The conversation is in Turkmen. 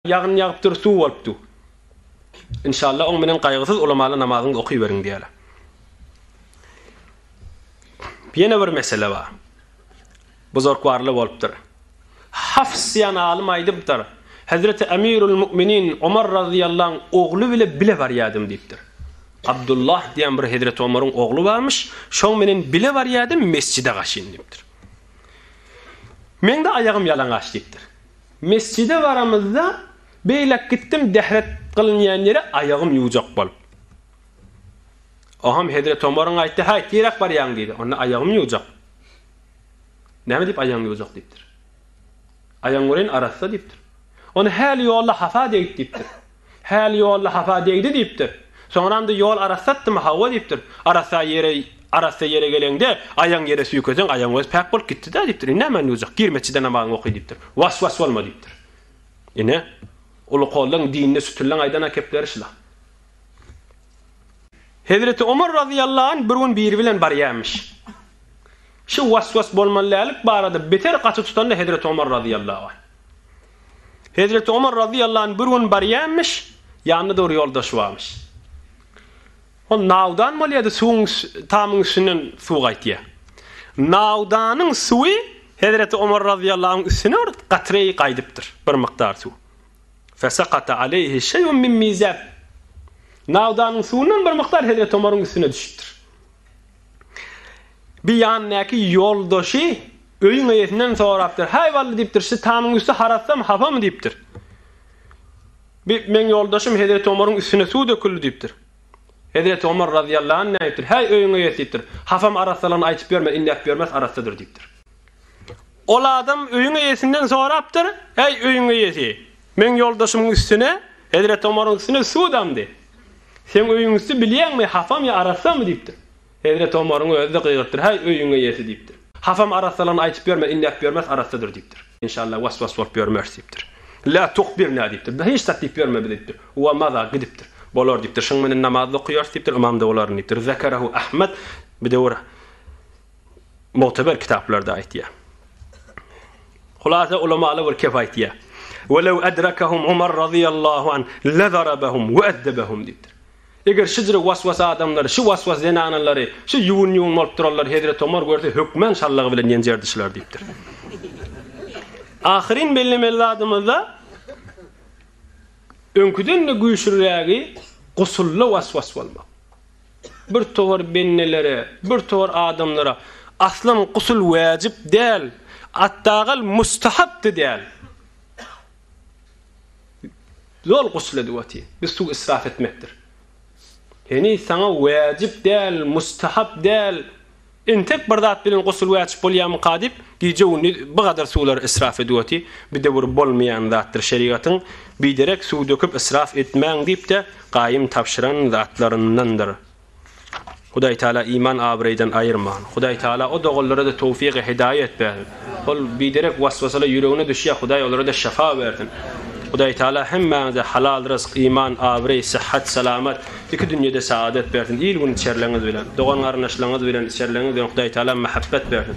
Ýagyn ýagypdyr suw bolup du. Inşalla oň menen gaýgysyz ulamaly namazyňyzy okyberiň diýeli. Ýene bir mesele bar. Buzurkwarly bolupdyr. Hafs diýen alym aýdypdyr. Hezreti Emirul Mu'minin Omar razyýallaň ogly bile bile barýadym diýipdir. Abdullah diýen bir Hezreti Omaryň ogly barmyş, şoň menen bile barýadym mesjide gaşyn diýipdir. Meňde aýagym ýalaňaç diýipdir. Mesjide baramyzda, beýläk gitdim dehret gylynýan ýere aýagym ýuwjak bolup. Oňam hezret Omaryň aýtdy, Haý, tiräk barýaň diýdi. Onda aýagym ýuwjak. Näme diýip aýagyň ýuwjak diýipdir. Aýagyň göreýin arassa diýipdir. Ony häli ýolda hapa degip diýipdir. Häli ýolda hapa degdi diýipdir. Soňram-da ýol arassatdymy, hawa diýipdir. Arassa ýere arassa ýere geleňde, aýagyňy ýere süýkeseň, aýagyň özi päk bolup gitdi-dä diýipdir. Indi nämäni duýjak? Gir metjide namazyňy oky diýipdir. Was-was bolma diýipdir. Ine, uly kollaň dinine sütüleň aýdan akepleri şula. Hezreti Omar razyýallahu anh bir gün biri bilen barýarmyş. Şu was-was bolmaly dällik barada beter gaty tutanda Hezreti Omar razyýallahu anh. Hezreti Omar razyýallahu anh bir gün barýanmyş, ýanynda dogry ýoldaşy barmyş. Ol nawdan bolýardy, suwuň tamyň üstünden suw gaýtýar. Nawdanyň suwy Hezreti Omar razyýallahu anh üstüne bir gatreý gaýdypdyr, bir mukdar suw. Fesakata aleýhi şeýun min mizab. Nawdanyň suwundan bir mukdar Hezreti Omaryň üstüne düşüpdir. Bir ýanyndaky ýoldaşy öýüň eýesinden sorapdyr. Häý Bally diýipdir, şu tamyň üsti harasdamy, hapamy diýipdir. Bi meň ýoldaşym Hezreti Omaryň üstüne suw döküldi diýipdir. Hezreti Omar razyýallahu anh nädipdir? Häý öýüň eýesi diýipdir. Hapam arassalygyny aýtyp ýörme, indi äp ýörmes arassadyr diýipdir. Ol adam öýüň eýesinden sorapdyr, Häý öýüň eýesi, meň ýoldaşymyň üstüne, Hezreti Omaryň üstüne suw damdy. Seň öýüň üsti bilýäňmi, hapam ýa arassamy? diýipdir. Hezreti Omaryň özi-de gygyrtdyr, Häý, öýüň eýesi! diýipdir. Hapam arassalany aýdyp ýörme, indäp ýörmes, arassadyr! diýipdir. Enşalla, was-was bolup ýörmeris! diýipdir. La tuhbirna! diýipdir. Hiç zat diýip ýörme bize! diýipdir. Wa maza! Gidipdir. Bolar! diýipdir. Şunuň menen namaz-da okaýarys! diýipdir. Ymam-da bolaryn! diýipdir. Zekerahu Ahmet, Bir döwür Mugteber kitaplarda aýtýar. Hulasa ulamaly bir kep aýtýar. Welew adrakahum Umar razyýallahu an lazarabahum we addabahum diýipdir. Eger şu jyry waswas adamlary, şu waswas zenanalary, şu ýuwun-ýuwun bolup duranlary Hezreti Umar görse hökman şallagy bilen ýenjerdi şular diýipdir. Ahyryn bellemeli zadymyzda öňküden-de güýçlürägi gusully waswas bolmak. Bir towar bennelere, bir towar adamlara aslam gusul wäjip däl, atdagal mustahapdy däl. Zol gusul edip otyr. Biz suw israf etmekdir. Heniz saňa wäjip däl, mustahap däl, Entek bir zat bilen gusl wäjip bolýamyka diýip, gije-gündiz bu gadar suwlary israf edip oty, bu de bir bolmaýan zatdyr şerigatyň biderek suw döküp israf etmäň diýip-de gaýym tabşyran zatlaryndandyr. Hudaý Taala iman abraýdan aýyrman. Hudaý Taala o doganlara-da towfygy hidaýat bersin. Ol biderek waswasalar ýüregine düşýär Hudaý olara-da şyfa bersin. Hudaý Taala hemmäňize halal rysk, iman, abraý, syhat, salamat, iki dünýede saadat bersin. Il-gün içerleňiz bilen, dogan-garyndaşlaryňyz bilen içerleňiz bilen Hudaý Taala mähebet bersin.